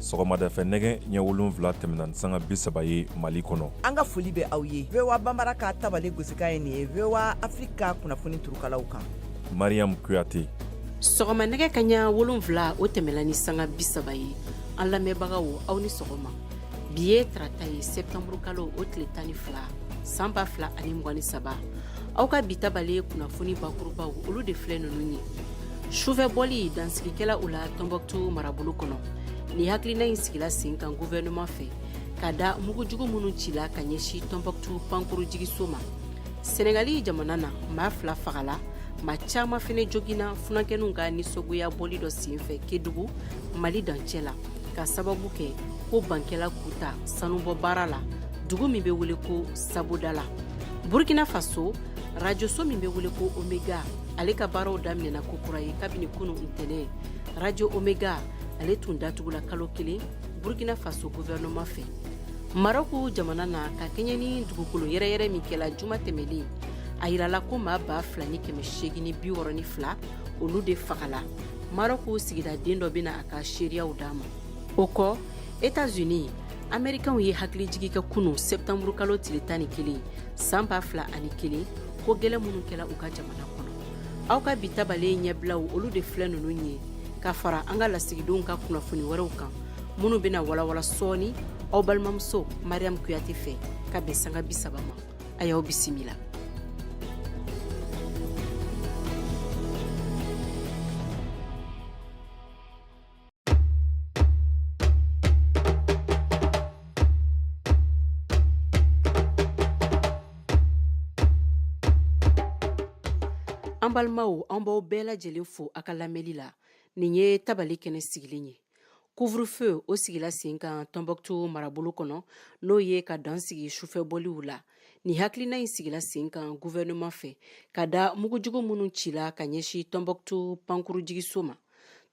sɔgɔmada fɛ nɛgɛ ɲɛ wolonwula tɛmɛna ni sanga bi saba ye mali kɔnɔ an ka foli bɛ aw ye voa bambara ka tabale gosikan ye nin ye voa afiriki ka kunnafoni turukalaw kan mariyamu kuyate sɔgɔma nɛgɛ kanɲɛ wolonwula o tɛmɛla ni sanga bi saba ye an lamɛnbagaw aw ni sɔgɔma bi ye tarata ye septanburu kalo o tile tan ni fila san ba fila ani mugan ni saba aw ka bi tabale kunnafoni bakurubaw olu de filɛ ninnu ye sufɛ bɔli dansigi kɛla u la tɔnbɔkutu marabolo kɔnɔ nin hakilina in sigila sen kan guvɛrɛnɛman fɛ ka da mugujugu minnu cila ka ɲɛsin tɔnbɔkutu pankurun jiginso ma sɛnɛgali jamana na maa fila fagala maa caman fɛnɛ joginna funankɛninw ka nisɔngoya bɔli dɔ senfɛ kedugu mali dancɛ la k'a sababu kɛ ko ban kɛla k'u ta sanubɔ baara la dugu min bɛ wele ko sabodala burkina faso rajoso min bɛ wele ko omega ale ka baaraw daminɛna ko kura ye kabini kunu ntɛnɛn rajo omega ale tun datugula kalo kelen burkina faso guvɛrɛnɛman fɛ marɔku jamana na ka kɛɲɛ ni dugukolo yɛrɛyɛrɛ min kɛla juma tɛmɛlen a yirala ko maa ba fila ni kɛmɛ seegin ni bi wɔrɔ ni fila olu de fagala marɔku sigida den dɔ bɛna a ka seereyaw d'a ma o kɔ etats-unis amerikɛnw ye hakilijigi kɛ kunu sɛptanburu kalo tile tan ni kelen san ba fila ani kelen ko gɛlɛn minnu kɛla u ka jamana kɔnɔ aw ka bi tabale ɲɛbilaw olu de filɛ ninnu ye ka fara an ka lasigidenw ka kunnafoni wɛrɛw kan minnu bɛna walawala sɔɔni aw balimamuso mariyamu kuyate fɛ ka bɛn sanga bisaba ma a y'aw bisimila an balimaw an b'aw bɛɛ lajɛlen fo a ka lamɛnli la nin ye tabale kɛnɛ sigilen ye Couvre-feu o sigila sen kan tɔnbɔkutu marabolo kɔnɔ n'o ye ka dan sigi sufɛ bɔliw la nin hakilina in sigila sen kan guvɛrɛnɛman fɛ ka da mugujugu minnu cila ka ɲɛsin tɔnbɔkutu pankurunjiginso ma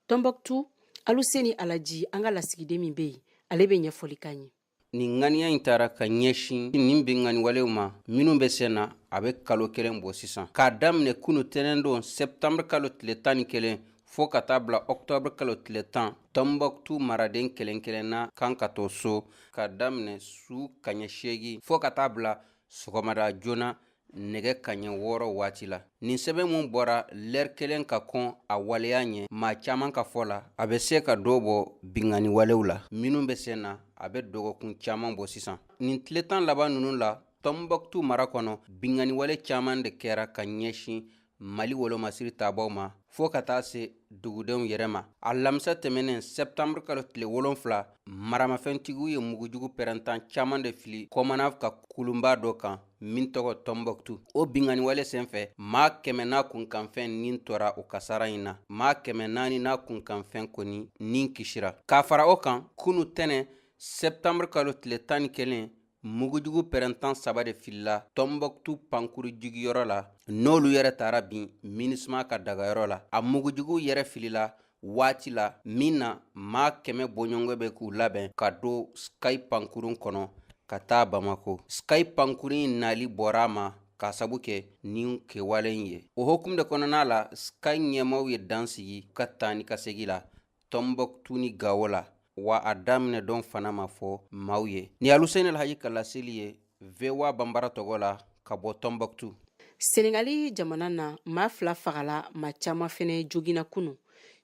tɔnbɔkutu aluseni alaji an ka lasigiden min bɛ yen ale bɛ ɲɛfɔli k'an ye nin ŋaniya in tara ka ɲɛsin nin binkanniwalew ma minnu bɛ sen na a bɛ kalo kelen bɔ sisan k'a daminɛ kunu tɛnɛndon sɛptanbr kalo tile tan ni kelen fɔɔ ka taa bila ɔktɔbr kalo tile tan tɔnbɔkutu maraden kelen kelenna kan ka to so k'a daminɛ su kanɲɛ seegin fɔɔ ka taa bila sɔgɔmada joona nɛgɛ kaɲɛ wɔɔrɔ waati la nin sɛbɛn min bɔra lɛri kelen ka kɔn a waleya ɲɛ maa caman ka fɔ la a bɛ se ka dɔ bɔ binkanni walew la minnu bɛ sen na a bɛ dɔgɔkun caman bɔ sisan nin tile tan laban ninnu la tɔnbɔkutu mara kɔnɔ binkanni wale caman de kɛra ka ɲɛsin mali wolomasiri tabaaw ma fo ka taa se dugudenw yɛrɛ ma alamisa tɛmɛnen sɛptanburu kalo tile wolonfila maramafɛntigiw ye mugujugu pɛrɛntan caaman de fili komanav ka kulunba dɔ kan min tɔgɔ tɔnbɔktu o binkanni wale sen fɛ maa kɛmɛ n'a kunkanfɛn nin tora o kasara in na maa kɛmɛ naani n'a kunkanfɛn kɔni nin kisira ka fara o kan kunun tɛnɛn sɛptanburu kalo tile tan ni kelen mugujugu pɛrɛntan saba de filila tɔnbɔktu pankurun jiginyɔrɔ la n'olu yɛrɛ taara bin minusma ka dagayɔrɔ la a mugujugu yɛrɛ filila waati la min na maa kɛmɛ bɔɲɔgɔnko bɛ k'u labɛn ka don sky pankurun kɔnɔ ka taa bamako sky pankurun in nali bɔra a ma k'a sabu kɛ nin kɛwale in ye o hokumu de kɔnɔna la sky ɲɛmaaw ye dan sigi u ka taa ni ka segin la Tɔnbɔktu ni gawo la wa a daminɛ don fana ma fɔ maaw ye nin aluseni alhaji ka laseli ye voa bambara tɔgɔ la ka bɔ tɔnbɔktu senegali jamana na maa fila fagala maa caman fana joginna kunun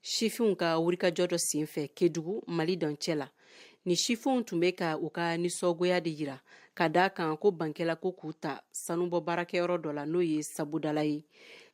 sifinw ka wulikajɔ dɔ senfɛ kedugu mali dancɛ la nin sifinw tun bɛ ka u ka nisɔngoya de jira ka da a kan ko ban kɛla ko k'u ta sanubɔ baarakɛyɔrɔ dɔ la n'o ye sabodala ye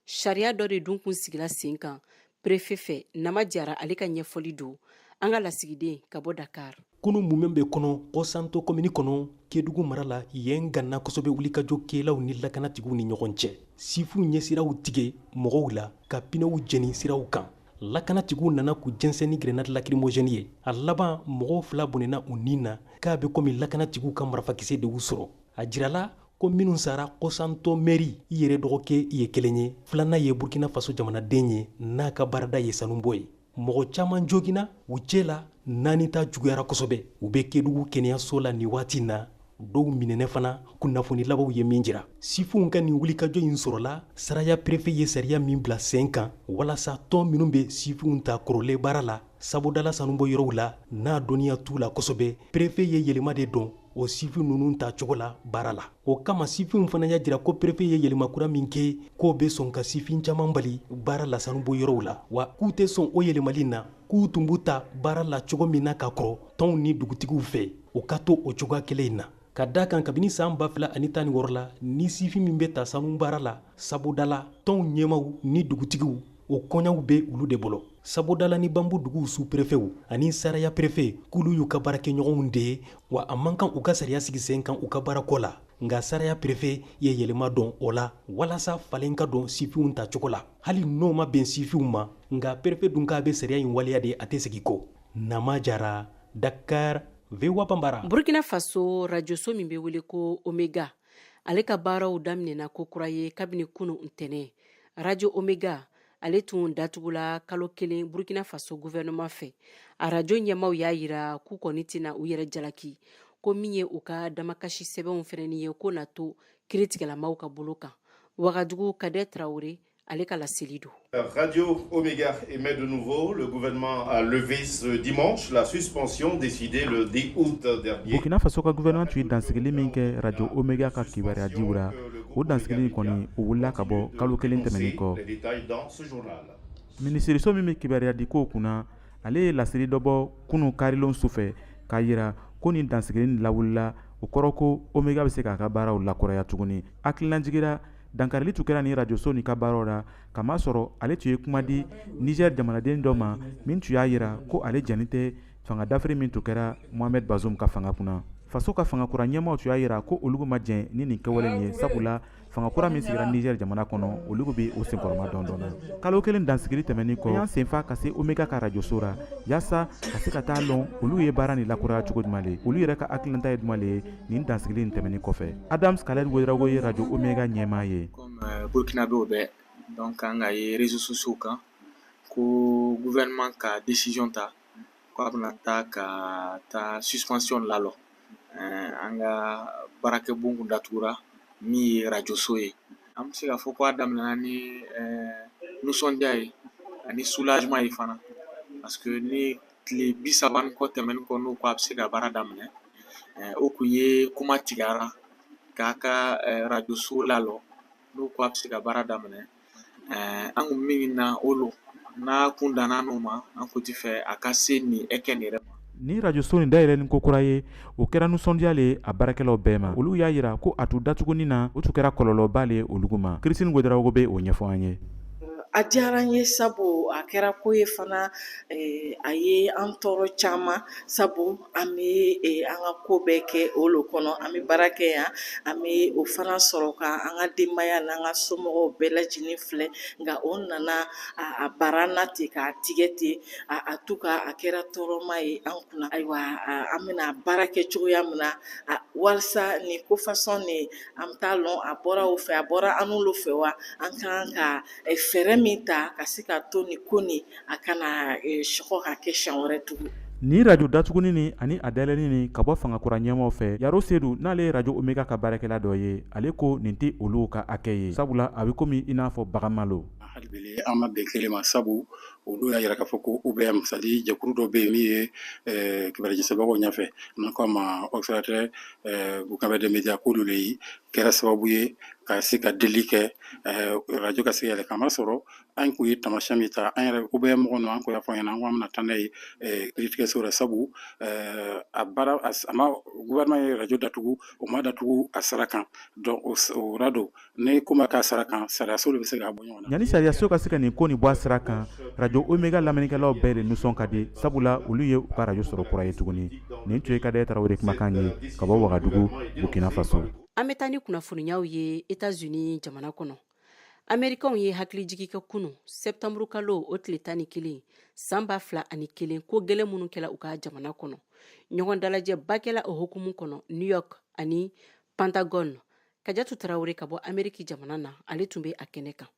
sariya dɔ de dun tun sigila sen kan Perefe fɛ nama jara ale ka ɲɛfɔli don an ka lasigiden ka bɔ dakari kunun mumɛ bɛɛ kɔnɔ kosanto komini kɔnɔ kedugu mara la yen ganna kosɛbɛ wulikajɔ kɛlaw ni lakanatigiw ni ɲɔgɔn cɛ sifinw ye siraw tigɛ mɔgɔw la ka pinɛw jeni siraw kan lakanatigiw nana k'u jɛnsɛn ni grenadi lakirimozɛni ye a laban mɔgɔw fila bɔnɛna u ni na k'a bɛ komi lakanatigiw ka marafakisɛ de y'u sɔrɔ a jirala ko minnu sara kosanto mɛri yɛrɛ dɔgɔkɛ ye kelen ye filanan ye burkina faso jamanaden ye n'a ka baarada ye sanubɔ ye mɔgɔ caman joginna u cɛ la naani ta juguyara kosɛbɛ u bɛ kedugu kɛnɛyaso la nin waati na dɔw minɛna fana kunnafoni labanw ye min jira sifinw ka nin wulikajɔ in sɔrɔla saraya perefe ye sariya min bila sen kan walasa tɔn minnu bɛ sifinw ta kɔrɔlen baara la sabodala sanubɔ yɔrɔw la n'a dɔnniya t'u la kosɛbɛ perefe ye yɛlɛma de don o sifin ninnu ta cogo la baara la o kama sifinw fana y'a jira ko perefe ye yɛlɛma kura min kɛ k'o bɛ sɔn ka sifin caaman bali baara la sanubɔ yɔrɔw la wa k'u tɛ sɔn o yɛlɛmali na k'u tun b'u ta baara la cogo min na ka kɔrɔ tɔnw ni dugutigiw fɛ o ka to o cogoya kelen in na ka d'a kan kabini san ba fila ani tan ni wɔɔrɔ la ni sifin min bɛ ta sanu baara la sabodala tɔnw ɲɛmaw ni dugutigiw o koɲaw bɛ olu de bolo sabodala ni bambu duguw su perefew ani saraya perefe k'olu y'u ka baarakɛɲɔgɔnw de ye wa a man kan u ka sariya sigi sen kan u ka baarako la nka saraya perefe ye yɛlɛma don o la walasa falen ka don sifinw ta cogo la hali n'o ma bɛn sifinw ma nka perefe dun k'a bɛ sariya in waleya de a tɛ segin kɔ nama jara dakar voa banbara burkina faso rajoso min bɛ wele ko omega ale ka baaraw daminɛna ko kura ye kabini kunu ntɛnɛn arajo omega ale tun datugula kalo kelen burkina faso guvɛnɛman fɛ arajo ɲɛmaw y'a yira k'u kɔni tɛna u yɛrɛ jalaki ko min ye u ka damakasi sɛbɛnw fɛnɛni ye ko na to kiritigɛlamaw ka bolo kan wagadugu kadɛ tarawele ale ka laseli don Radio Omega émet de nouveau. Le gouvernement a levé ce dimanche la suspension décidée le 10 août dernier. Burkina Faso ka gouvernement tun ye dansigili min kɛ Radio Omega ka kibaruya diw la o dansigili kɔni o wulila ka bɔ kalo kelen tɛmɛnin kɔ minisiriso min bɛ kibaruya di kow kunna ale ye laseli dɔ bɔ kunun karilon su fɛ k'a yira ko nin dansigili nin lawulila o kɔrɔ ko omega bɛ se k'a ka baaraw lakuraya tuguni hakililajigi ra dankarili tun kɛra nin rajoso nin ka baaraw la k'a masɔrɔ ale tun ye kuma di nizɛri jamanaden dɔ ma min tun y'a yira ko ale jɛnnin tɛ Fanga dafiri min tun kɛra Mohamed Bazoum ka fanga kunna, faso ka fanga kura ɲɛmaaw tun y'a yira ko olugu ma jɛn ni nin kɛwale in ye, sabula fanga kura min sigira Niger jamana kɔnɔ, olugu bɛ o senkɔrɔmadondon na. Kalo kelen dansigili tɛmɛnen kɔ, an y'an senfa ka se Omega ka arajoso la, yaasa ka se ka taa lɔn olu ye baara nin lakuraya cogo jumɛn le, olu yɛrɛ ka hakilinata ye jumɛn le ye nin dansigili in tɛmɛnen kɔfɛ. Adams Khaled Ouedraogo ye arajo Omega ɲɛmaa ye. Comme Burkinabéw bɛɛ donc an k'a ye réseaux sociaux kan ko gouvernement ka décision ta ko a bɛna taa ka taa suspension lalɔ ɛɛ an ka baarakɛbon kun datugura min ye radio so ye an bɛ se k'a fɔ ko a daminɛna ni nisɔndiya ye ani soulagement ye fana parce que ni tile bi saba ni kɔ tɛmɛni kɔ n'o ko a bɛ se ka baara daminɛ o kun ye kuma tigɛra k'a ka radio so lalɔ n'o ko a bɛ se ka baara daminɛ eh, an kun min na o lo n'a kun danna anw ma an kun ti fɛ a ka se nin ɛkɛ nin yɛrɛ ma nin rajoso nin dayɛlɛni ko kura ye o kɛra nisɔndiya le a baarakɛlaw bɛɛ ma olu y'a yira ko a tun datugunin na o tun kɛra kɔlɔlɔba le olugu ma kirisitini wedarawogo bɛ o ɲɛfɔ an ye a diyara n ye sabu a kɛra ko ye fana eh, a ye an tɔɔrɔ caman sabu an bɛ an ka ko bɛɛ kɛ o lo kɔnɔ an bɛ baara kɛ yan an bɛ o fana sɔrɔ ka an ka denbaya n'an ka somɔgɔw bɛɛ lajɛlen filɛ nka o nana a bara na ten k'a tigɛ ten en tout cas a kɛra tɔɔrɔma ye an kunna ayiwa an bɛna baara kɛ cogoya min na walasa nin ko fasɔn nin an t'a lɔn a bɔra o fɛ a bɔra annu lo fɛ wa an kan ka fɛɛrɛ min ta ka se ka to nin ko nin a kana sekɔ ka kɛ siɲɛ wɛrɛ tugun nin arajo datuguni nin ani a dayɛlɛni nin ka bɔ fanga kura ɲɛmaw fɛ yaro seydou n'ale ye arajo omega ka baarakɛla dɔ ye ale ko nin tɛ olu ka hakɛ ye sabula a bɛ komi i n'a fɔ baganma lo hali bi an ma bɛn kelen ma sabu olu y'a jira k'a fɔ ko obm c'est-à-dire jɛkulu dɔ bɛ yen min ye kibaru jɛnsɛnbagaw ɲɛfɛ n'u ko a ma observatoire burkinabè des médias k'olu de ye kɛra sababu ye ka se ka deli kɛ arajo ka se ka yɛlɛ k'a masɔrɔ an kun ye tamasiyɛn min ta an yɛrɛ obm mɔgɔ ninnu an kun y'a fɔ u ɲɛna ko an bɛna taa n'a ye kiritigɛso la sabu a baara a ma gouvernement ye radio datugu o ma datugu a sira kan donc o ra dun ni ko ma kɛ a sira kan sariyaso de bɛ se k'a bɔ ɲɔgɔn na yanni sariyaso ka se ka nin ko nin bɔ a sira kan radio omega lamɛnnikɛlaw bɛɛ de nisɔn ka di sabula olu ye u ka radio sɔrɔ kura ye tuguni nin tun ye kadɛrɛ tarawele kumakan ye ka bɔ wagadugu burkina faso an bɛ taa ni kunnafoniyaw ye etats unis jamana kɔnɔ amerikanw ye hakilijigi kɛ kunu sɛptanburu kalo o tile tan ni kelen san ba fila ani kelen ko gɛlɛn minnu kɛla u ka jamana kɔnɔ ɲɔgɔn dalajɛba kɛla o hukumu kɔnɔ new york ani pantagɔn kajatu tarawele ka bɔ ameriki jamana na ale tun bɛ a kɛnɛ kan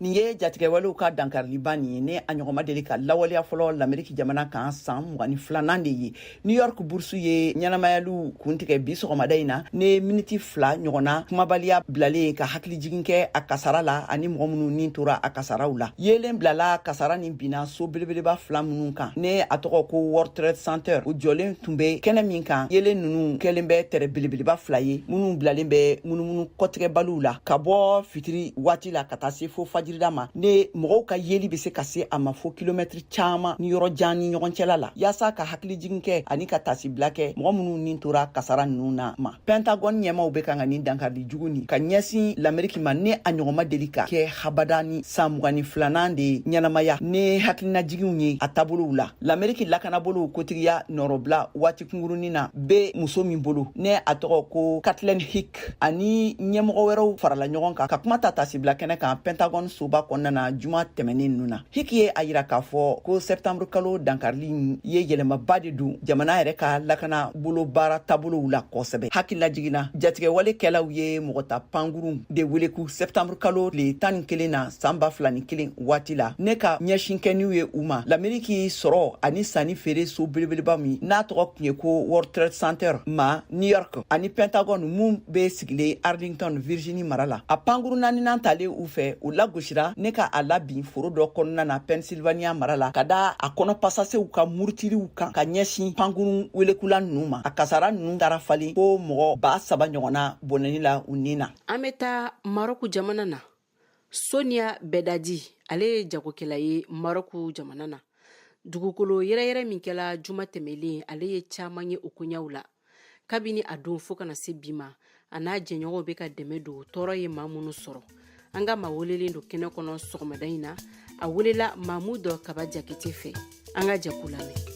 nin ye jatigɛwalew ka dankariliba nin ye ni a ɲɔgɔn ma deli ka lawaleya fɔlɔ lameriki jamana kan san mugan ni filanan de ye new york burusu ye ɲɛnamayaliw kuntigɛ bi sɔgɔmada in na ni miniti fila ɲɔgɔnna kumabaliya bilali ye ka hakilijigin kɛ a kasara la ani mɔgɔ minnu ni tora a kasaraw la yeelen bilala kasara nin binna so belebeleba fila minnu kan ni a tɔgɔ ko world trade center u jɔlen tun be kɛnɛ min kan yeelen nunu kɛlen bɛ tɛrɛ belebeleba fila ye minnu bilalen bɛ munumunu kɔtigɛbaliw la ka bɔ fitiri waati la ka taa se fo fajirida ma ni mɔgɔw ka yeli be se ka se a ma fo kilomɛtiri caman ni yɔrɔ jan ni ɲɔgɔn cɛla la yaasa ka hakilijigin kɛ ani ka taasibila kɛ mɔgɔ minnu ni tora kasara ninnu na ma pɛntagɔn ɲɛmaw bɛ kan ka nin dankarili jugu nin ka ɲɛsin lameriki ma ni a ɲɔgɔn ma deli ka kɛ habada ni san mugan ni filanan de ɲɛnamaya ni hakilinajiginw ye a taabolow la lameriki lakanabolow kotigiya nɔrɔbila waati kungurunin na be muso min bolo ni a tɔgɔ ko kathleen hicks ani ɲɛmɔgɔ wɛrɛw farala ɲɔgɔn kan ka kuma ta tasibila kɛnɛ kan pentagon soba kɔnɔna na juma tɛmɛnen ninnu na hicks ye a yira k'a fɔ ko sɛptanburu kalo dankarili ye yɛlɛmaba de don jamana yɛrɛ ka lakana bolo baara taabolow la kosɛbɛ hakililajigin na jatigɛwale kɛlaw ye mɔgɔ ta pankurun de weleku sɛptanburu kalo tile tan ni kelen na san ba fila ni kelen waati la ne ka ɲɛsin kɛniw ye u ma lameriki sɔrɔ ani sanni feere so belebeleba min n'a tɔgɔ tun ye ko world trade center ma New York ani Pentagon min bɛ sigilen Arlington Virginie mara la a pankuru naaninan talen u fɛ u lagosira ne ka a labin foro dɔ kɔnɔna na Pennsylvania mara la ka da a kɔnɔ pasasew ka murutiliw kan ka ɲɛsin pankurun welekula ninnu ma a kasara ninnu taara falen ko mɔgɔ ba saba ɲɔgɔnna bɔnɛni la u ni na an bɛ taa Maroc jamana na sonia beidadi ale ye jagokɛla ye marɔku jamana na dugukolo yɛrɛyɛrɛ min kɛla juma tɛmɛlen ale ye caaman ye o koɲaw la kabini a don fɔɔ ka na se bi ma a n'a jɛɲɔgɔnw be ka dɛmɛ don tɔɔrɔ ye maa minnu sɔrɔ an ka maa welelen don kɛnɛ kɔnɔ sɔgɔmada in na a welela mamudu kaba jakite fɛ an ka jɛ k'u lamɛn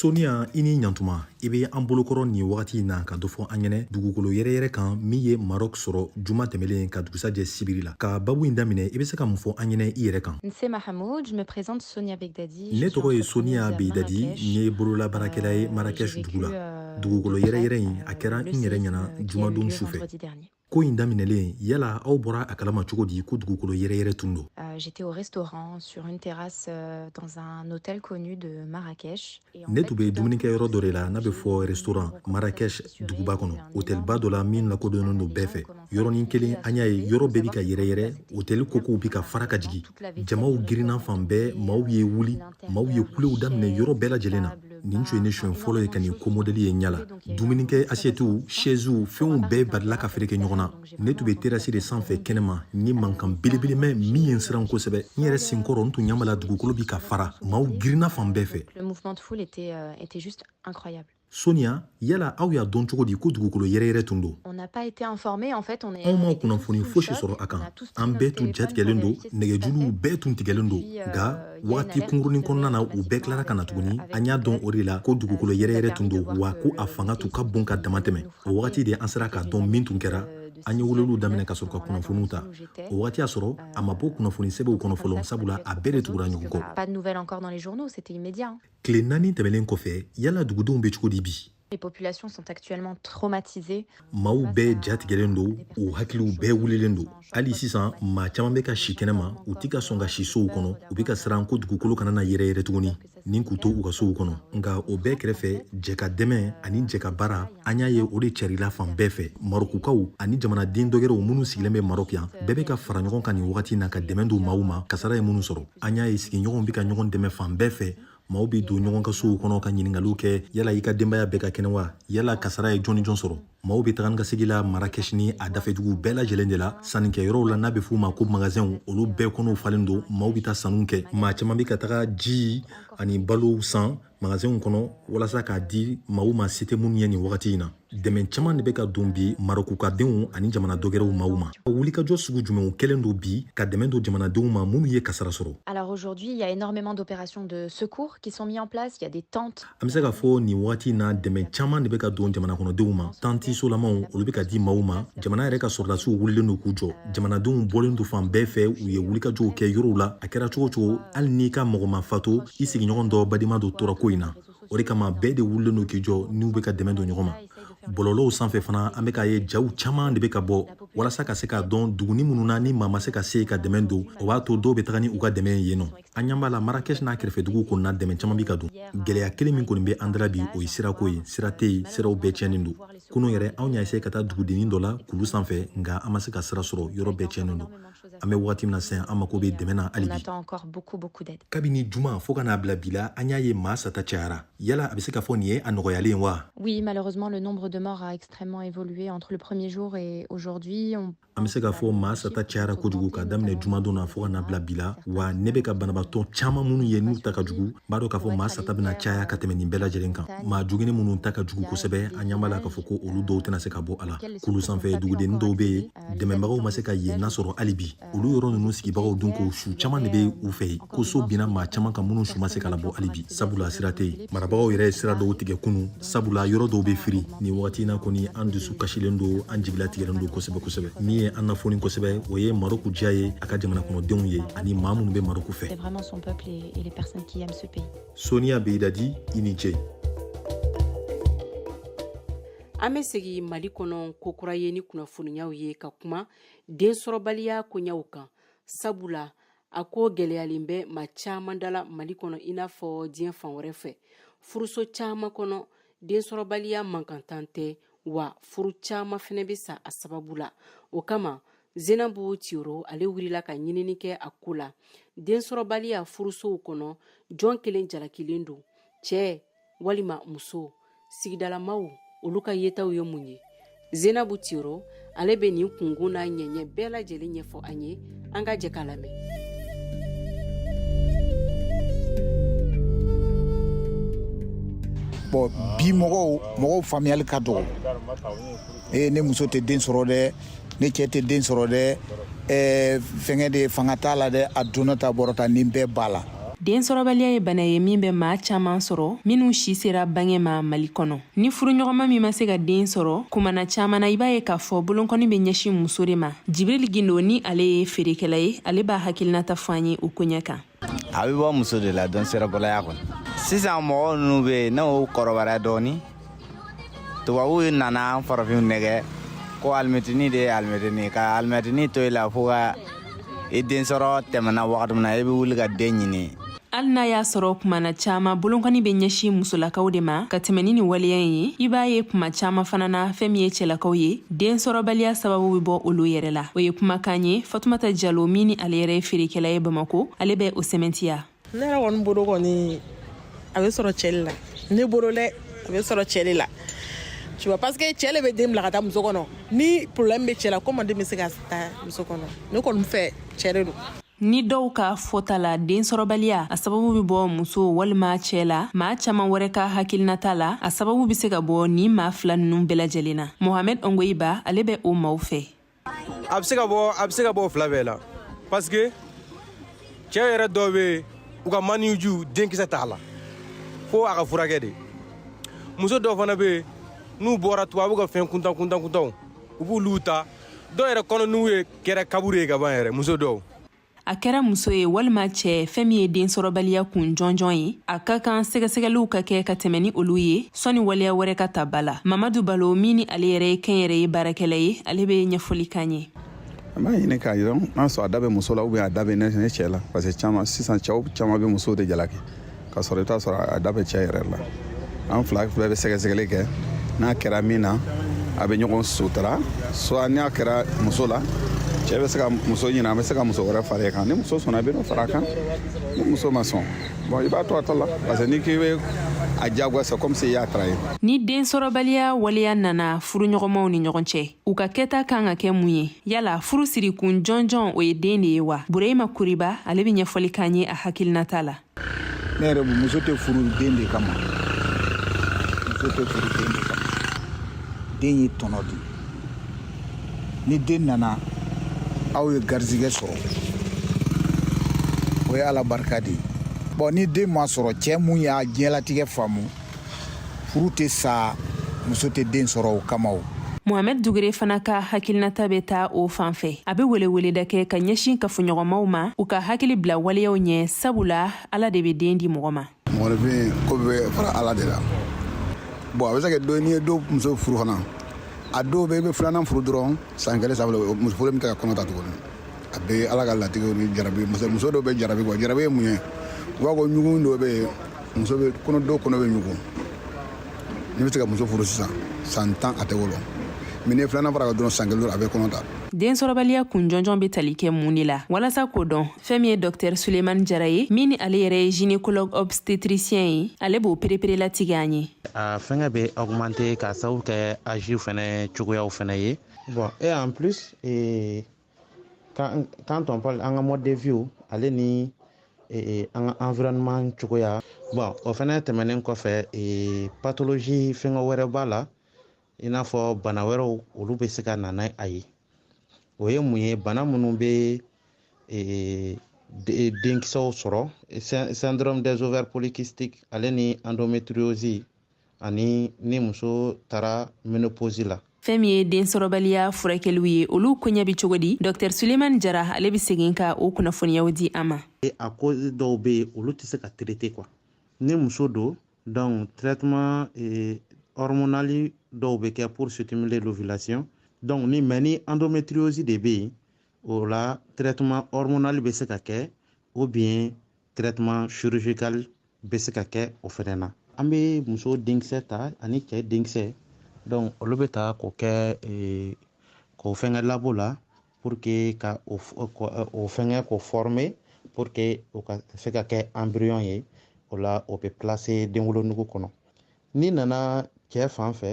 soniya i ni ɲantuma i be an bolokɔrɔ nin wagati in na ka dɔ fɔ an ɲɛnɛ dugukolo yɛrɛyɛrɛ kan min ye marɔk sɔrɔ juma tɛmɛlen ka dugusajɛ sibiri la ka babu in daminɛ i be se ka mun fɔ an ɲɛnɛ i yɛrɛ kan ne tɔgɔ ye soniya beidadi n ye bololabaarakɛla ye marakɛsh dugu la euh, dugukolo yɛrɛyɛrɛ in a kɛra n yɛrɛ ɲɛna jumadon sufɛ ko in daminɛlen yala aw bɔra a kalama cogo di ko dugukolo yɛrɛyɛrɛ tun don euh, j'étais au restaurant sur une terrasse euh, dans un hôtel connu de Marrakech ne tun bɛ dumunikɛ yɔrɔ dɔ de la n'a bɛ fɔ restaurant Marrakech duguba kɔnɔ hôtelba dɔ la min lakodɔnnen don bɛɛ fɛ yɔrɔnin kelen an y'a ye yɔrɔ bɛɛ bi ka yɛrɛyɛrɛ hôtel kokow bi ka fara ka jigin jamaw girinna fan bɛɛ maaw ye wuli Maaw ye kulew daminɛ yɔrɔ bɛɛ lajɛlen na nin tun ye ne siɲɛ fɔlɔ ye ka nin ko mɔdɛli ye n ɲɛ la dumunikɛ asiyɛtiw shɛziw fɛnw bɛɛ barila ka fereke ɲɔgɔn na ne tun bɛ terasi de sanfɛ kɛnɛma n ye mankan belebele mɛn min ye n siran kosɛbɛ n yɛrɛ senkɔrɔ n tun ɲɛ b'a la dugukolo bi ka fara maaw girinna fan bɛɛ fɛ Sonia, yala aw y'a dɔn cogo di ko dugukolo yɛrɛyɛrɛ tun don anw ma kunnafoni fosi sɔrɔ a kan an bɛɛ tun jatigɛlen don nɛgɛjuluw bɛɛ tun tigɛlen don euh, nka wagati kunkurunin kɔnɔna na u bɛɛ tilara ka na tuguni an y'a dɔn o de la ko dugukolo yɛrɛyɛrɛ tun don wa ko a fanga tun ka bon ka dama tɛmɛ o wagati de an sera k'a dɔn min tun kɛra euh, an ye weleliw daminɛ ka sɔrɔ ka kunnafoniw ta o wagati y'a sɔrɔ a ma bɔ kunnafoni sɛbɛnw kɔnɔ fɔlɔ sabula a bɛɛ de tugura ɲɔgɔn kɔ Tile naani tɛmɛnen kɔfɛ, yala dugudenw bɛ cogo di bi? Les populations sont actuellement traumatisées. Maaw bɛɛ ja tigɛlen don, u hakiliw bɛɛ wulilen don. Hali sisan, maa caman bɛ ka si kɛnɛma, u tɛ ka sɔn ka si sow kɔnɔ, u bɛ ka siran ko dugukolo kana na yɛrɛyɛrɛ tuguni, ni k'u to u ka sow kɔnɔ. Nka o bɛɛ kɛrɛfɛ, jɛkadɛmɛ ani jɛkabaara, an y'a ye o de cɛrila fan bɛɛ fɛ. Marɔkukaw ani jamanaden dɔgɛrɛw minnu sigilen bɛ Marɔk yan, bɛɛ bɛ ka fara ɲɔgɔn kan nin wagati na ka dɛmɛ don maaw ma, kasara ye minnu sɔrɔ. an y'a ye sigiɲɔgɔnw bɛ ka ɲɔgɔn dɛmɛ fan bɛɛ fɛ maaw bɛ don ɲɔgɔn ka sow kɔnɔ ka ɲiningaliw kɛ yala i ka denbaya bɛɛ ka kɛnɛ wa yala kasara ye jɔn ni jɔn sɔrɔ maaw bɛ taga ni ka segi la marakɛsi ni a dafɛduguw bɛɛ lajɛlen de la sannikɛyɔrɔw la n'a bɛ f'u ma ko magasɛnw olu bɛɛ kɔnɔw falen don maaw bɛ taa sanniw kɛ maa caman bɛ ka taga ji ani balow san magasinw kɔnɔ walasa k'a di maaw ma se tɛ minnu ye nin wagati in na dɛmɛ caman de bɛ ka don bi marokukadenw ani jamana dɔgɛrɛw maaw ma wulikajɔ sugu jumɛnw kɛlen don bi ka dɛmɛ don jamanadenw ma minnu ye kasara sɔrɔ alors aujourd'hui il y a énormément d'opérations de secours qui sont mises en place il y a des tentes an bɛ se k'a fɔ nin wagati in na dɛmɛ caman de bɛ ka don jamana kɔnɔdenw ma tanti solamaw olu bɛ ka di maaw ma jamana yɛrɛ ka sɔrɔdasiw wulilen don k'u jɔ jamanadenw bɔlen don fan bɛɛ fɛ u ye wulikajɔw kɛ yɔrɔw la a kɛra cogo cogo hali n'i ka mɔgɔ ma fatu i sigiɲɔgɔn dɔ badima dɔ tora ko in na o de kama bɛɛ de wulilen don k'i jɔ n'u bɛ ka dɛmɛ don ɲɔgɔn ma bɔlɔlɔw sanfɛ fana an bɛ k'a ye jaw caman de bɛ ka bɔ walasa ka se k'a dɔn duguni minnu na ni maa ma se ka se ka dɛmɛ don o b'a to dɔw bɛ taga ni u ka dɛmɛ ye yen nɔ an ɲɛ b'a la marakɛsi n'a kɛrɛfɛ duguw kɔnɔna dɛmɛ caman bi ka don gɛlɛya kelen min kɔni bɛ an da la bi o ye sirako ye sira tɛ yen siraw bɛɛ tiɲɛnen don kunun yɛrɛ anw y'a essayé ka taa dugudennin dɔ la kulu sanfɛ nka an ma se ka sira sɔrɔ yɔrɔ bɛɛ tiɲɛnen don an bɛ wagati min na sisan an mako bɛ dɛmɛ na hali bi encore beaucoup beaucoup d'aide kabini juma fo ka n'a bila bi la an y'a ye maa sata cayara yala a bɛ se ka fɔ nin ye a nɔgɔyalen wa oui malheureusement le nombre de morts a extrêmement évolué entre le premier jour et aujourd'hui an bɛ se k'a fɔ maa sata cayara kojugu k'a daminɛ jumadon na fo ka n'a bila bi la wa ne bɛ ka banabaatɔ caman minnu ye n'u ta ka jugu b'a dɔn k'a fɔ maa sata bɛna caya ka tɛmɛ nin bɛɛ lajɛlen kan maa jogini minnu ta ka jugu kosɛbɛ an ɲɛ b'a la k'a fɔ ko olu dɔw tɛna se ka bɔ a la kulu sanfɛ dugudennin dɔw bɛ yen dɛmɛbagaw ma se ka yen nasɔrɔ hali bi olu yɔrɔ ninnu sigibagaw dun ko su caman de bɛ u fɛ yen ko so binna maa caman kan minnu su ma se ka labɔ hali bi sabula sira tɛ yen marabagaw yɛrɛ ye sira dɔw tigɛ kunu sabula yɔrɔ dɔw bɛ firi nin wagati na kɔni an dusu kasilen don an jigilatigɛlen don kosɛbɛ kosɛbɛ min ye an nafoni kosɛbɛ o ye maroku diya ye a ka jamana kɔnɔdenw ye ani maa minnu bɛ maroku fɛ soniya beyidadi i ni ce an bɛ segin mali kɔnɔ kokura ye ni kunnafoniyaw ye ka kuma densɔrɔbaliya koɲaw kan sabula a ko gɛlɛyalen bɛ maa caman da la mali kɔnɔ i n'a fɔ diɲɛ fan wɛrɛ fɛ furuso caman kɔnɔ densɔrɔbaliya mankantan tɛ wa furu caman fana bɛ sa a sababu la o kama zenabu tiyoro ale wulila ka ɲinini kɛ a ko la densɔrɔbaliya furusow kɔnɔ jɔn kelen jalakilen don cɛɛ walima muso sigidalamaw olu ka yetaw ye mun ye zenabu tiro ale bɛ nin kunkun n'a ɲɛɲɛ bɛɛ lajɛlen ɲɛfɔ an ye an ka jɛ k'a lamɛn bon bi mɔgɔw faamuyali ka dɔgɔ ee ne muso tɛ den sɔrɔ dɛ ne cɛ tɛ den sɔrɔ dɛ ɛɛ fɛngɛ de fanga t'a la dɛ a donna ta bɔra ta nin bɛɛ b'a la densɔrɔbaliya ye bana ye min bɛ maa caman sɔrɔ minnu si sera bange ma mali kɔnɔ ni furuɲɔgɔnma min ma se ka den sɔrɔ kumana caman na i b'a ye k'a fɔ bolonkɔni bɛ ɲɛsin muso de ma jibril gindo ni ale ye feerekɛla ye ale b'a hakilinata fɔ an ye o koɲɛ kan a bɛ bɔ muso de la densɔrɔbaliya kɔnɔ sisan mɔgɔ ninnu bɛ yen n'u kɔrɔbayara dɔɔnin tubabuw nana farafinw nɛgɛn ko alimɛtini de ye alimɛtini ka alimɛtini to i la fo ka i den sɔrɔ tɛmɛna wagati min na i bɛ wuli ka den ɲini hali n'a y'a sɔrɔ kuma na caaman bolonkɔni bɛ ɲɛsin musolakaw de ma ka tɛmɛ ni nin waleya ye i b'a ye kuma caaman fana na fɛn min ye cɛlakaw ye densɔrɔbaliya sababu bɛ bɔ olu yɛrɛ la o ye kumakan ye fatumata jalo min ni ale yɛrɛ ye feerekɛla ye bamako ale bɛ o sɛmɛntiya ne yɛrɛ kɔni bolo kɔni a bɛ sɔrɔ cɛ le la ne bolo dɛ a bɛ sɔrɔ cɛ le la tu vois parce que cɛ le bɛ den bila ka taa muso kɔnɔ ni problème bɛ cɛ la comment den bɛ se ka taa muso kɔnɔ ne kɔni fɛ cɛ de don Ni dɔw ka fɔta la densɔrɔbaliya a sababu bɛ bɔ muso walima cɛɛ la maa caaman wɛrɛ ka hakilinata la a sababu be se ka bɔ nin maa fila nunu bɛɛ lajɛlen na mohamɛd ɔngoyiba ale bɛ o maaw fɛ a be se ka bɔ a be se ka bɔ fila bɛɛ la paske cɛɛ yɛrɛ dɔw be u ka maniju denkisɛ t'a la fo a ka furakɛ de muso dɔw fana be n'u bɔra tubabu ka fɛn kuntan kuntan kuntanw u b'olu ta dɔw yɛrɛ kɔnɔnugu ye kɛra kaburu ye ka ban yɛrɛ muso dɔw a kɛra muso ye walima cɛ fɛn min ye densɔrɔbaliya kun jɔnjɔn ye a ka kan sɛgɛsɛgɛliw ka kɛ ka tɛmɛ ni olu ye sɔni waleya wɛrɛ ka ta ba la mamadu balo min ni ale yɛrɛ ye kɛnyɛrɛye baarakɛla ye ale bɛ ɲɛfɔli k'an ye an b'a ɲini k'a yira n'a sɔrɔ a da bɛ muso la ou bien a da bɛ ne cɛ la parce que caman sisan cɛw caman bɛ musow de jalaki ka sɔrɔ i t'a sɔrɔ a da bɛ cɛ yɛrɛ la an fila bɛɛ bɛ sɛgɛsɛgɛli kɛ n'a kɛra min na a bɛ ɲɔgɔn sutura soit n'a kɛra muso la cɛ bɛ se ka muso ɲini a bɛ se ka muso wɛrɛ fara kan ni muso sɔnna a bɛ dɔ fara a kan ni muso ma sɔn bon i b'a to a ta la parce que n'i k'i bɛ a diyagoya comme si i y'a trahir ni densɔrɔbaliya waleya nana furuɲɔgɔnmaw ni ɲɔgɔn cɛ u ka kɛta kan ka kɛ mun ye yala furu sirikun jɔnjɔn o ye den de ye wa bureyima kuriba ale bɛ ɲɛfɔli k'an ye a hakilinata la ne yɛrɛ muso tɛ furu den de kama muso tɛ furu den de kama den ye tɔnɔ de ye ni den nana aw ye garizigɛ sɔrɔ o ye ala barika de ye bon ni den ma sɔrɔ cɛ min y'a diɲɛlatigɛ faamu furu tɛ sa muso tɛ den sɔrɔ o kama o mohamɛd dugere fana ka hakilinata bɛ taa o fan fɛ a bɛ weleweleda kɛ ka ɲɛsin kafoɲɔgɔnmaw ma u ka hakili bila waleyaw ɲɛ sabula ala de bɛ den di mɔgɔ ma mɔgɔninfin ko bɛ fara ala de la bon a bɛ se kɛ do n'i ye dɔ muso furu fana a dɔw bɛ i bɛ filanan furu dɔrɔn san kelen sabula muso fɔlɔ min tɛ ka kɔnɔ ta tuguni a bɛ ala ka latigɛw ni jara muso dɔw bɛ jarabi quoi jara ye mun ye u b'a fɔ ɲugun dɔ bɛ yen muso bɛ kɔnɔ dɔw kɔnɔ bɛ ɲugun ne bɛ se ka muso furu sisan san tan a tɛ wolo mais ni filanan fara a kan dɔrɔn san kelen a bɛ kɔnɔ ta densɔrɔbaliya kun jɔnjɔn bɛ tali kɛ mun de la walasa k'o dɔn fɛn min ye dɔktɛr sulemani jara ye min ni ale yɛrɛ ye gynécologue obstétricien ye ale b'o perepere latigɛ an ye a fɛngɛ bɛ augmenter k'a sababu kɛ âge fɛnɛ cogoyaw fɛnɛ ye bon et en plus ee quand on parle an ka mode de vie ale ni e, e, an ka environnement cogoya bon o fɛnɛ tɛmɛnen kɔfɛ e, pathologie fɛngɛ wɛrɛ b'a la i n'a fɔ bana wɛrɛw olu bɛ se ka na n'a ye o ye mun ye bana minnu bɛ denkisɛw sɔrɔ syndrome des ovaires polykystiques ale ni endométriose ani ni muso taara ménopause la fɛn min ye densɔrɔbaliya furakɛliw ye olu koɲɛ bɛ cogo di dr sulemani jara ale bɛ segin ka o kunnafoniyaw di an ma a cause dɔw bɛ yen olu tɛ se ka traiter quoi ni muso don donc traitement eh, hormonal dɔw bɛ kɛ pour stimuler l'ovulation donc ni mais ni endométriose de bɛ yen o la traitement hormonal bɛ se ka kɛ ou bien traitement chirurgical bɛ se ka kɛ o fɛnɛ na an bɛ muso denkisɛ ta ani cɛ denkisɛ donc olu bɛ ta k'o kɛ eh, k'o fɛngɛ labo la pour que ka o fɛngɛ k'o former pour que o ka se ka kɛ embryon ye o la o bɛ placer denwolonugu kɔnɔ n'i nana cɛ fan fɛ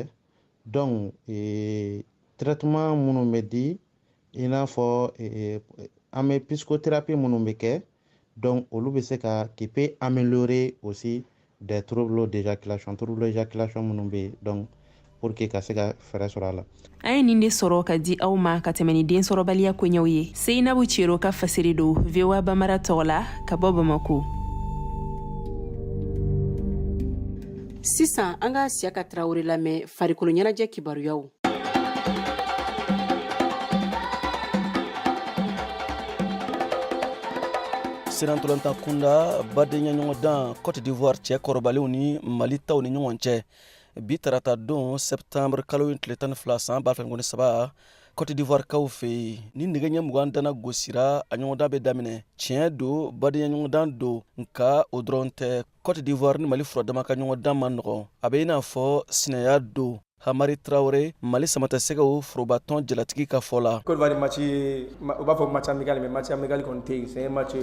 donc ee traitement minnu bɛ di i n'a fɔ ee an bɛ psychothérapie minnu bɛ kɛ donc olu bɛ se ka qui peut améliorer aussi des troubles d'éjaculation troubles d'éjaculation minnu bɛ yen donc pour que ka se ka fɛɛrɛ sɔrɔ a la an ye nin de sɔrɔ ka di aw ma ka tɛmɛ ni densɔrɔbaliya koɲɛw ye seyinabu cero ka fasiri don voa bambara tɔgɔ la ka bɔ bamako sisan an ka siyaka tarawele lamɛn farikolo ɲɛnajɛ kibaruyaw sennantolanta kunda badenyaɲɔgɔndan cote d'ivoire cɛ kɔrɔbalenw ni mali taw ni ɲɔgɔn cɛ bi tarata don septembre kalo in tile tan ni fila san ba fila ni mugan ni saba cote d'ivoire kaw fɛ yen ni nɛgɛ ɲɛ mugan dana gosira a ɲɔgɔndan bɛ daminɛ tiɲɛ don badenyaɲɔgɔndan don nka o dɔrɔn tɛ cote d'ivoire ni mali furadama ka ɲɔgɔndan man nɔgɔn a bɛ i n'a fɔ sinaya don hamari tarawele mali samatasɛgɛw forobatɔn jalatigi ka fɔ la cote d'ivoire match u b'a fɔ match amical mais match amical kɔni tɛ yen c'est match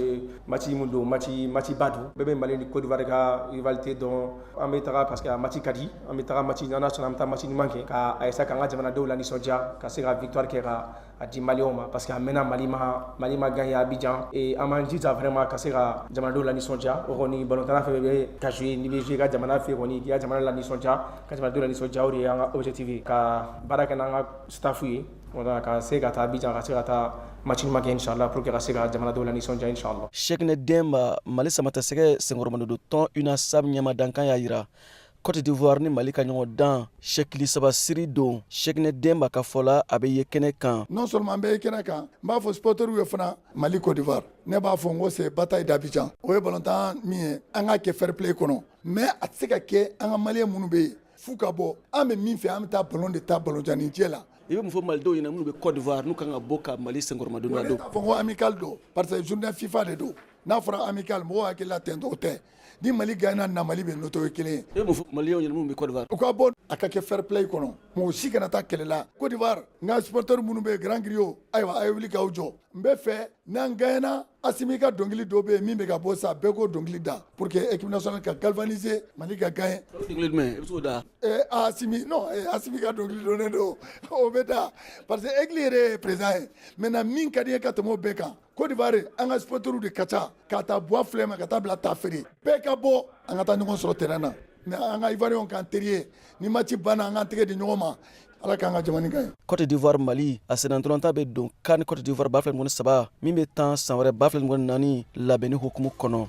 match mun don match matchba don bɛɛ bɛ mali ni cote d'ivoire ka rivalité dɔn an bɛ taga parce que a match ka di an bɛ taga match n'ala sɔnna an bɛ taa match ɲuman kɛ ka essayer k'an ka jamanadenw lanisɔndiya ka se ka victoire kɛ ka a di maliens ma parce que a mɛnna mali ma gagner abijan et an b'an jija vraiment ka se ka jamanadenw lanisɔndiya o kɔni balontanna fɛn bɛ ka jouer n'i bɛ jouer ka jamana fɛ kɔni k'i ka jamana lanisɔndiya ka jamanadenw lanisɔndiya o de ye an ka objectif ye ka baara kɛ n'an ka staff ye wala ka se ka taa abijan ka se ka taa match ɲuman kɛ inshallah pour que ka se ka jamanadenw lanisɔndiya inshallah Cheickna Demba mali samatasɛgɛ senkɔrɔmadondon tɔn UNASAM ɲɛmadankan y'a jira Cote d'Ivoire ni Mali ka ɲɔgɔndan sɛkili saba siri don Cheickna Demba ka fɔ la a bɛ ye kɛnɛ kan. Non seulement an bɛ ye kɛnɛ kan, n b'a fɔ supporters ye fana Mali Cote d'Ivoire ne b'a fɔ n ko c'est bataille d'Abidjan o ye balontan min ye an k'a kɛ fair play kɔnɔ mais a tɛ se ka kɛ an ka Maliens minnu bɛ yen f'u ka bɔ an bɛ min fɛ an bɛ taa balon de tan balon ɲɛnajɛ la. I bɛ mun fɔ Malidenw ɲɛna minnu bɛ Cote d'Ivoire n'u ka kan ka bɔ ka Mali senkɔrɔmadondon? Ne t'a fɔ ko amical don parce que journée FIFA de don. N'a fɔra amical mɔgɔ hakili la ten o tɛ ni mali gagnena mali bɛ noto ye kelen e maliens minnu bɛ u ka bɔ a ka kɛ fair play kɔnɔ mɔgɔ si kana taa kɛlɛ la cote d'ivoire n ka supporters minnu bɛ yen grand griot ayiwa a ye wuli k'aw jɔ n bɛ fɛ n'an gagnena assimi ka dɔnkili dɔ bɛ yen min bɛ ka bɔ sa bɛɛ k'o dɔnkili da pour que équipe nationale ka galvaniser mali ka gagner assimi non assimi ka dɔnkili don don o bɛ da parce que aigle yɛrɛ ye président ye maintenant min ka di ne ye ka tɛmɛ o bɛɛ kan Cote d'Ivoire an ka supporters de ka ca k'a ta Bouaflé ma ka taa bila Tafiré bɛɛ ka bɔ an ka taa ɲɔgɔn sɔrɔ terrain na mais an ka Ivoiriens k'an teri ye ni match banna an k'an tɛgɛ di ɲɔgɔn ma ala k'an ka jamana ka ɲi. Cote d'Ivoire Mali a sennantolanta bɛ don CAN Cote d'Ivoire 2023 min bɛ tan san wɛrɛ 2024 labɛnni hukumu kɔnɔ.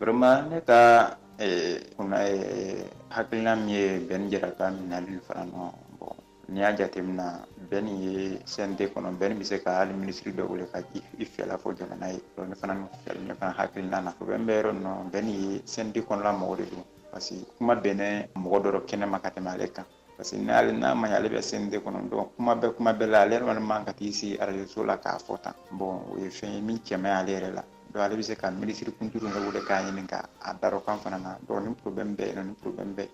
vraiment ne ka kun hakilina min ye bɛn jara ka minɛli fana nɔ bon n'i y'a jateminɛ bɛn ye CNT kɔnɔ bɛn bɛ se ka hali minisiri dɔ wele ka i fɛla fɔ jamana ye ne fana ne fana hakilina na o bɛ bɛ yɔrɔ nɔ bɛn ye CNT kɔnɔna mɔgɔ de don parce que kuma bɛnnen mɔgɔ da rɔ kɛnɛma ka tɛmɛ ale kan parce que n'ale n'a ma ɲɛ ale bɛ CNT kɔnɔ donc kuma bɛɛ kuma bɛɛ la ale yɛrɛ kɔni man ka t'i sigi arajoso la k'a fɔ tan bon o ye fɛn ye min cɛ man ɲi ale yɛrɛ la donc ale bɛ se ka minisiri kuntigi yɛrɛ wele k'a ɲininka a da rɔ kan fana na donc ni problème bɛ yen ni problème bɛ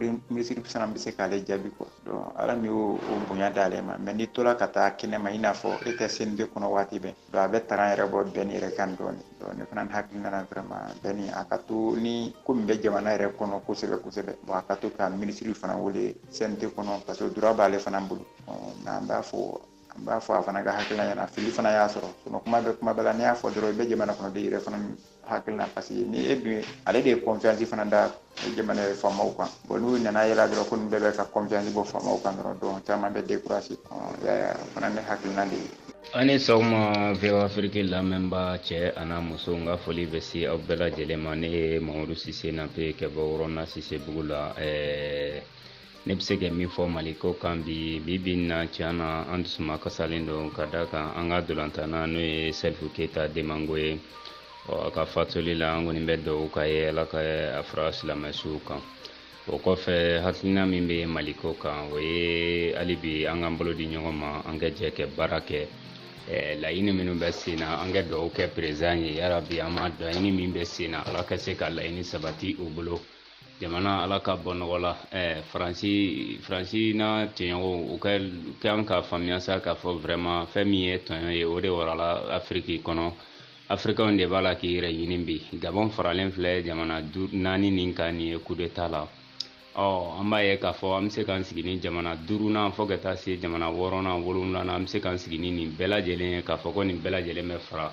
yen minisiri fana bɛ se k'ale jaabi quoi donc ala min y'o bonya d'ale ma mais n'i tora ka taa kɛnɛma i n'a fɔ i tɛ CNT kɔnɔ waati bɛɛ donc a bɛ taga yɛrɛ bɔ bɛn yɛrɛ kan dɔɔni dɔɔni ne fana hakilina na vraiment bɛn a ka to ni ko min bɛ jamana yɛrɛ kɔnɔ kosɛbɛ kosɛbɛ bon a ka to ka minisiri fana wele CNT kɔnɔ parce que droit b'ale fana bolo nka an b'a fɔ an b'a fɔ a fana ka hakilina ye n'a fili fana y'a sɔrɔ sinon kuma bɛɛ kuma bɛɛ la n'i y'a fɔ dɔrɔn i bɛ jamana kɔnɔ de yɛrɛ fana hakilina parce que ni e dun ale de ye confiance fana da jamana faamaw kan bon n'u nana yɛlɛ dɔrɔn ko nin bɛɛ bɛ ka confiance bɔ faamaw kan dɔrɔn donc caman bɛ découragé yaya fana ne hakilina de ye aw ni sɔgɔma voa afiriki lamɛnba cɛ an'a muso n ka foli bɛ se aw bɛɛ lajɛlen ma ne ye mamadu sise nape kɛ bɔ wɔrɔna sisebugu la ɛɛ ne bɛ se ka min fɔ mali ko kan bi bi bi na tiɲɛ na an dusuma kasalen don ka da kan an ka ntolatanna n'o ye salifu keyita domingo ye ɔ a ka fatuli la an kɔni bɛ dugawu k'a ye ala ka a fara silamɛsuw kan o kɔfɛ hakilina min bɛ mali ko kan o ye hali bi an k'an bolo di ɲɔgɔn ma an ka jɛ ka baara kɛ Eh, laɲini minnu bɛ sen na an ka dugawu kɛ perezan ye yarabi an ma laɲini min bɛ sen na ala ka se ka laɲini sabati u bolo jamana ala k'a bɔ nɔgɔ la ɛɛ faransi faransi n'a tɔɲɔgɔnw u ka kan k'a faamuya sa k'a fɔ vraiment fɛn min ye tɔɲɔ ye o de warala afiriki kɔnɔ afirikɛnw de b'a la k'i yɛrɛ ɲini bi gabɔn faralen filɛ jamana naani nin kan nin ye kudeta la ɔ an b'a ye k'a fɔ an bɛ se k'an sigi ni jamana duurunan fo ka taa se jamana wɔɔrɔnan wolonwulanan an bɛ se k'an sigi ni nin bɛɛ lajɛlen ye k'a fɔ ko nin bɛɛ lajɛlen bɛ fara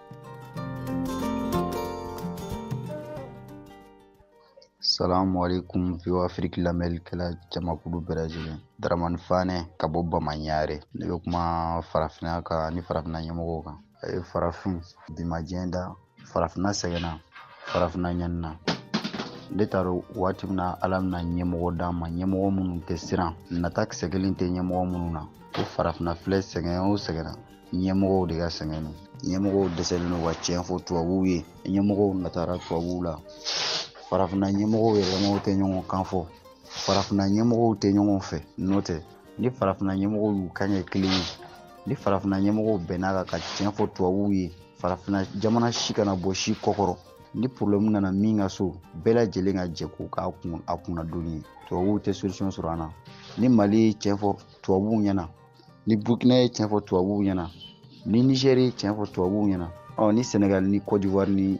Salamu alaikum VOA Afiriki lamɛnnikɛla jamakulu bɛɛ lajɛlen. Daramani Fane ka bɔ Bamanyare. Ne bɛ kuma farafinna kan ni farafinna ɲɛmɔgɔw kan. A ye farafin bimajɛ da farafinna sɛgɛnna farafinna ɲanina. Ne t'a dɔn waati min na Ala bɛna ɲɛmɔgɔ d'an ma ɲɛmɔgɔ minnu tɛ siran nata kisɛ kelen tɛ ɲɛmɔgɔ minnu na ko farafinna filɛ sɛgɛn o sɛgɛnna ɲɛmɔgɔw de ka sɛgɛn don ɲɛmɔgɔw dɛsɛlen don ka tiɲɛ fɔ tubabuw ye ɲɛmɔgɔw natara tubabuw la farafinna ɲɛmɔgɔw yɛrɛ ɲɔgɔn tɛ ɲɔgɔn kan fɔ farafinna ɲɛmɔgɔw tɛ ɲɔgɔn fɛ n'o tɛ ni farafinna ɲɛmɔgɔw y'u kan kɛ kelen ye ni farafinna ɲɛmɔgɔw bɛnn'a kan ka tiɲɛ fɔ tubabuw ye farafinna jamana si kana bɔ si kɔkɔrɔ ni porobilɛmu nana min ka so bɛɛ lajɛlen ka jɛ k'o k'a kun a kunna doni ye tubabuw tɛ solution sɔrɔ an na ni mali ye tiɲɛ fɔ tubabuw ɲɛna ni burukina ye tiɲɛ fɔ tubabuw ɲɛna ni nizɛri ye tiɲɛ fɔ tubabuw ɲɛna ɔ ni sɛnɛgali ni kɔdiwari ni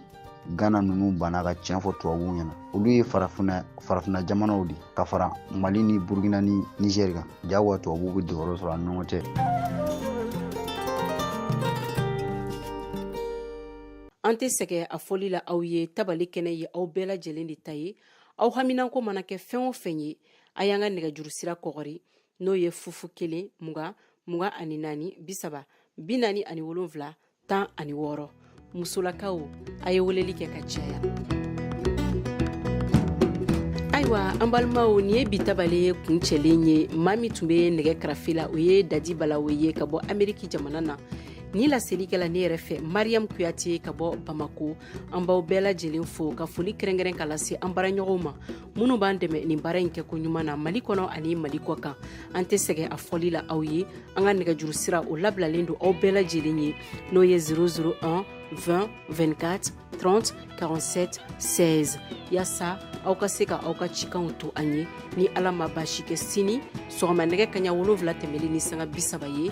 gana ninnu banna ka tiɲɛ fɔ tubabuw ɲɛna olu ye farafinna jamanaw de ka fara mali ni burukina ni nizɛri kan jagoya tubabuw bɛ dogoyɔrɔ sɔrɔ an ni ɲɔgɔn cɛ an tɛ sɛgɛn a fɔli la aw ye tabale kɛnɛ ye aw bɛɛ lajɛlen de ta ye aw haminanko mana kɛ fɛn o fɛn ye a y'an ka nɛgɛjuru sira kɔgɔri n'o ye fu fu kelen mugan mugan ani naani bisaba binaani ani wolonfila tan ani wɔɔrɔ musolakaw a ye weleli kɛ ka caya ayiwa an balimaw nin ye bi tabale ye kuncɛlen ye maa min tun bɛ nɛgɛ karafe la o ye dadi balawo ye ka bɔ ameriki jamana na ni laselikɛla ne yɛrɛ fɛ mariyamu kuyate ka bɔ bamako an b'aw bɛɛ lajɛlen fo ka foli kɛrɛnkɛrɛn ka lase an baaraɲɔgɔnw ma minnu b'an dɛmɛ nin baara in kɛko ɲuman na mali kɔnɔ ani mali kɔkan an tɛ sɛgɛn a fɔli la aw ye an ka nɛgɛjuru sira o labilalen don aw bɛɛ lajɛlen ye n'o ye 001 20 24 30 47 16 yasa aw ka se ka aw ka cikanw to an ye ni ala ma baasi kɛ sini sɔgɔma nɛgɛ kaɲa wolonfila tɛmɛlen ni sanga bisaba ye